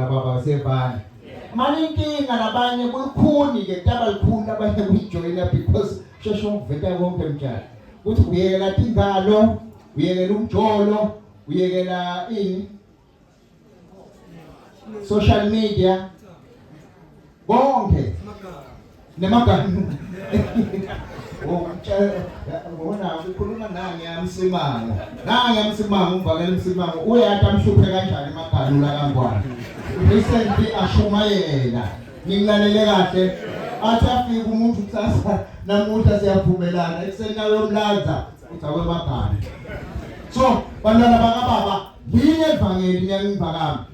Baba sebani. Manje inkinga labanye kulukhuni ke taba likhulu labanye kujoyina because sheshe umveta konke mtshana. Uthi uyekela tingalo, uyekela umjolo, uyekela ini? Social media konke nemaganu ngona ukhuluma nange yamsimango nange yamsimango umvakela umsimango uyathi amhluphe kanjani emaganu la kangwane recently ashumayela ngilalele kahle athi afike umuntu kusasa namuhla siyavumelana ekuseni nawe yomlanza uthi akwemaganu so bantwana bakababa yini evangeli niyangivakami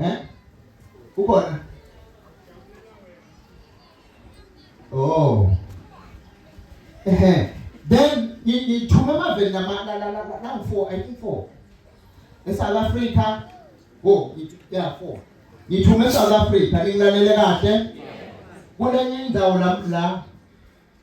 Eh? Ukhona? Oh. Eh. Then ngithume amaveli nama la la la la 4 I think 4. ESouth Africa. Oh, yeah 4. Ngithume eSouth Africa ngilalele kahle. Kulenye indawo lapho la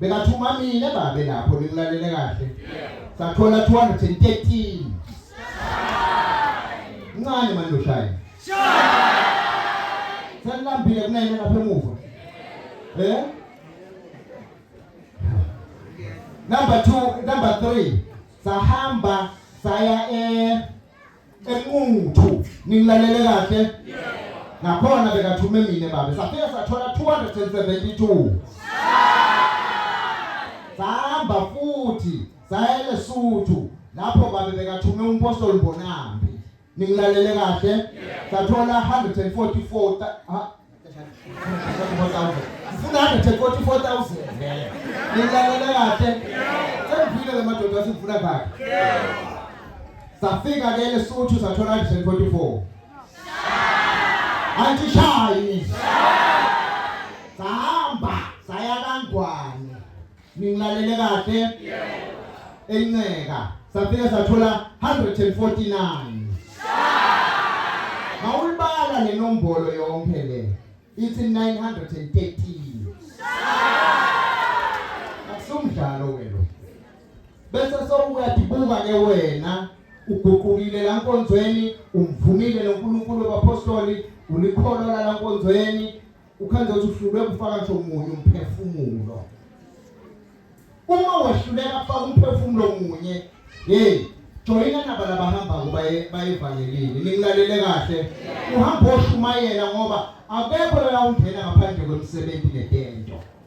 Bekathuma mina babe lapho nikulalele kahle. Sathola 213. Ncane manje ushaya. Sanilambile kunene lapha emuva. Eh? Number 2, number 3. Sahamba saya eh Ekungu-2 ningilalele kahle? Nakhona bekathume mina babe safika sathola 272 sahamba futhi saya eLesotho lapho babe bekathume umpostoli Mbonambi ningilalele kahle sathola 144 Ngifuna 144,000. Nilalele kahle. Sengivile le madoda asifuna kahle. Safika ke lesuthu sathola 144. Anti shayi. Sahamba saya kangwane. Ningilalele kahle? Yebo. Enceka. Safika sathola 149. Mawulibala le nombolo yonke le. Ithi 913. Akusumdlalo wena. Bese sowuyadibuka ke wena uguqukile la nkonzweni umvumile noNkulunkulu wabapostoli ulikholwa la nkonzweni Ukhanda uthi uhlulwe ukufaka nje omunye umphefumulo. Uma wahluleka ukufaka umphefumulo omunye, hey, joyina naba labahamba kuba bayevangelini. Ningilalele kahle. Uhamba oshumayela ngoba akekho la ungena ngaphandle kwemsebenzi netento.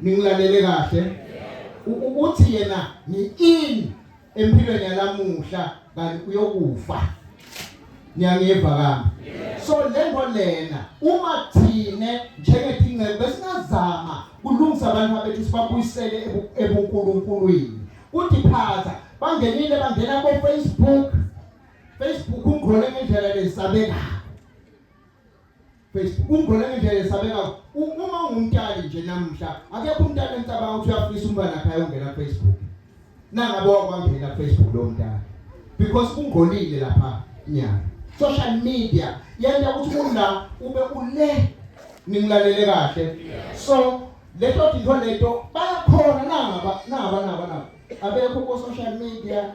ningilalele kahle ukuthi yena ni in empilweni yalamuhla kanti uyokufa niyangeva kami so lento lena uma thine njengethinqe besingazama kulungisa abantu abethu sibabuyisele ebunkulunkulwini kuthi phatha bangenile bangena ko Facebook Facebook ungqole ngendlela lesabekayo Facebook umbona nje yesabeka uma ungumtali nje namuhla akekho umntana encabanga ukuthi uyafisa umntana khaya ungena Facebook nangabo wakwangena Facebook lo mntana because kungcolile lapha nyaka social media yenza ukuthi ula ube ule ningilalele kahle so leto dinto leto bayakhona naba naba naba naba abekho ku social media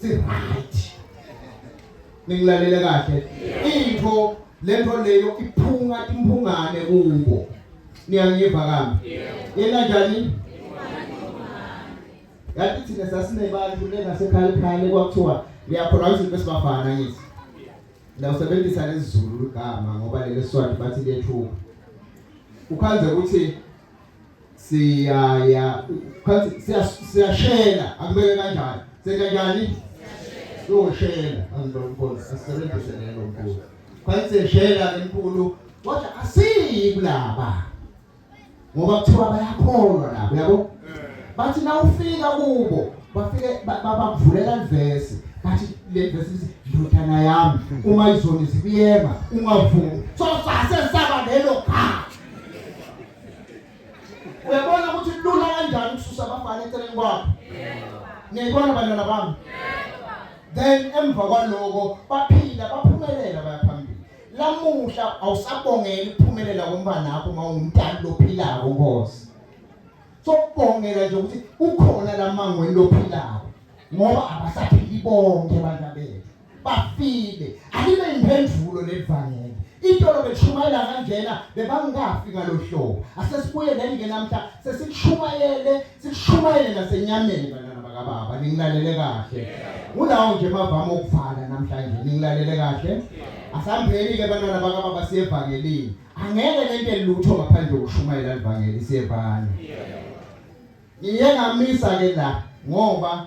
si right ningilalele kahle into lento leyo iphunga imphungane kubo niyangiva kambi yena njani yathi thina sasinebantu lengasekhaya ekhaya kwakuthiwa liyakhona izinto esibafana ngithi ndawusebenzisa lezulu igama ngoba leli swati bathi liyethuka ukhanze ukuthi siyaya phansi siyashela akubeke kanjani sekanjani siyoshela angibona asisebenzise lelo mbuzo phansi siyashela enkulu kodwa asiyi kulaba ngoba kuthiwa bayakholwa labo yabo bathi na ufika kubo bafike babavulela ivesi bathi le vesi lithi ndodana yami uma izoni zibiyema ungavumi so sase saba lelo khaya Uyabona ukuthi lula kanjani ukususa abafana eceleni kwakho. Niyibona bantwana bami? Then emva kwaloko baphila baphumelela bayaphambili. Lamuhla awusabongela ukuphumelela kombana wakho uma ungumntana lophilako Nkosi. Sokubongela nje ukuthi ukhona lamangweni lophilako ngoba abasaphili bonke abantu abethu. bafile alibe imphendulo levangeli itolo belishumayela kanjena bebangafi ngalohlobo asesibuye leni ke namhla sesikushumayele sikushumayele nasenyameni bantwana bakababa ningilalele kahle unawo nje mavama okuvala namhlanje ningilalele kahle asambeni ke bantwana bakababa siyevangelini angeke nente lutho ngaphandle kokushumayela livangeli siyevana ngiye ngamisa ke la ngoba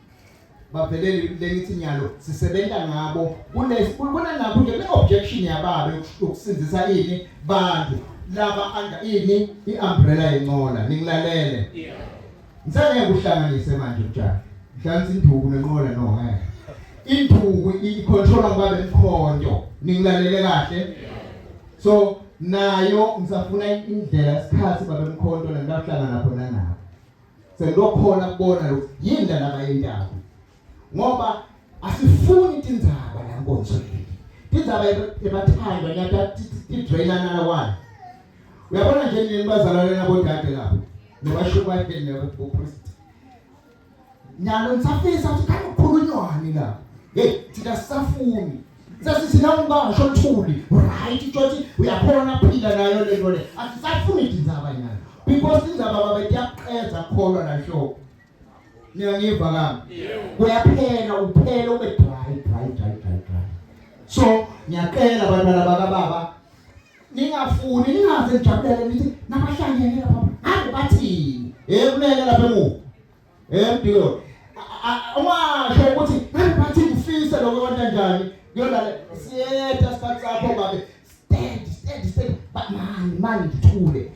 bavelele lengithi nyalo sisebenza ngabo kunesikhulukona nakho nje le objection yababe yokusindisa ini bantu laba under ini iumbrella yenqola ningilalele ngisake kuhlanganise manje mjana mhlanzi induku nenqola no eh induku icontrola kwabe mkhonto ningilalele kahle so nayo ngisafuna indlela isikhathi babe mkhonto nendahlangana khona nayo Sengilokhona kubona lo yini la laba yendaba. Ngoba asifuni tindzaba la nkonzo le. Tindzaba ebathandwa nyata tidraina nala wani. Uyabona nje nini bazalwane nabo dade lapho. Nobasho kwathi nabo kupriest. Nyalo nisafisa ukuthi khanye ukukhulunywa ni lapho. Hey, thina sisafuni. sasithi nawe ungasho oluthuli right utshothi uyakhona phila nayo le nto le asisafuni indaba nyana because indaba baba iyaqeza kholwa la show niyangiva kami kuyaphela uphela ube dry dry dry dry dry so ngiyaqela abantwana bakababa ningafuni ningaze nijabulele nithi nabahlangene lapha ngabe bathini hey kulele lapha emuva Eh deal. Uma sho ukuthi ngiphathi ngifise lokho kwenta njani? Kuyona siyetha isikhathi sakho babe. Stand, stand, stand. But man, man ngithule.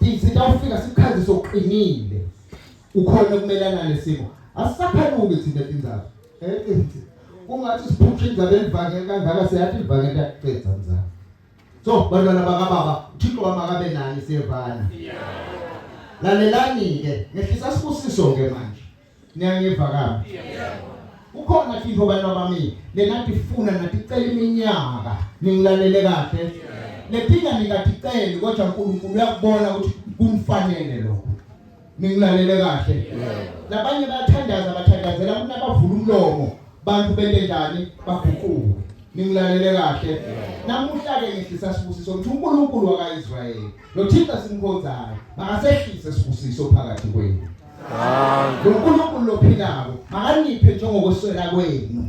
Izinto awufika sikhazise uqinile. Ukhona ukumelana nesimo. Asisaphanuki thina tindzaba. Eh, eh, eh. Kungathi siphuphe indaba elivangela kangaka siyathi livangela kuqedza mzala. so bantwana bakababa uthixo wami akabe nani siyevana lalelani-ke ngehlisa sibusiso-ke manje niyangiva kabi kukhona tintfo bantwa bami lenatifuna naticela iminyaka ningilalele kahle letinga ningaticeli kodwa unkulunkulu uyakubona ukuthi kumfanele lokho ningilalele kahle nabanye bathandaza bathandazela ukuthi abavula umlomo bantu bente njani baguquke ningilalele kahle namuhla ke ngihlisa sibusiso ukuthi uNkulunkulu wakaIsrayeli noThixo simkhonzayo makasehlise sibusiso phakathi kwenu uNkulunkulu lophilayo makaniphe njengokweswela kwenu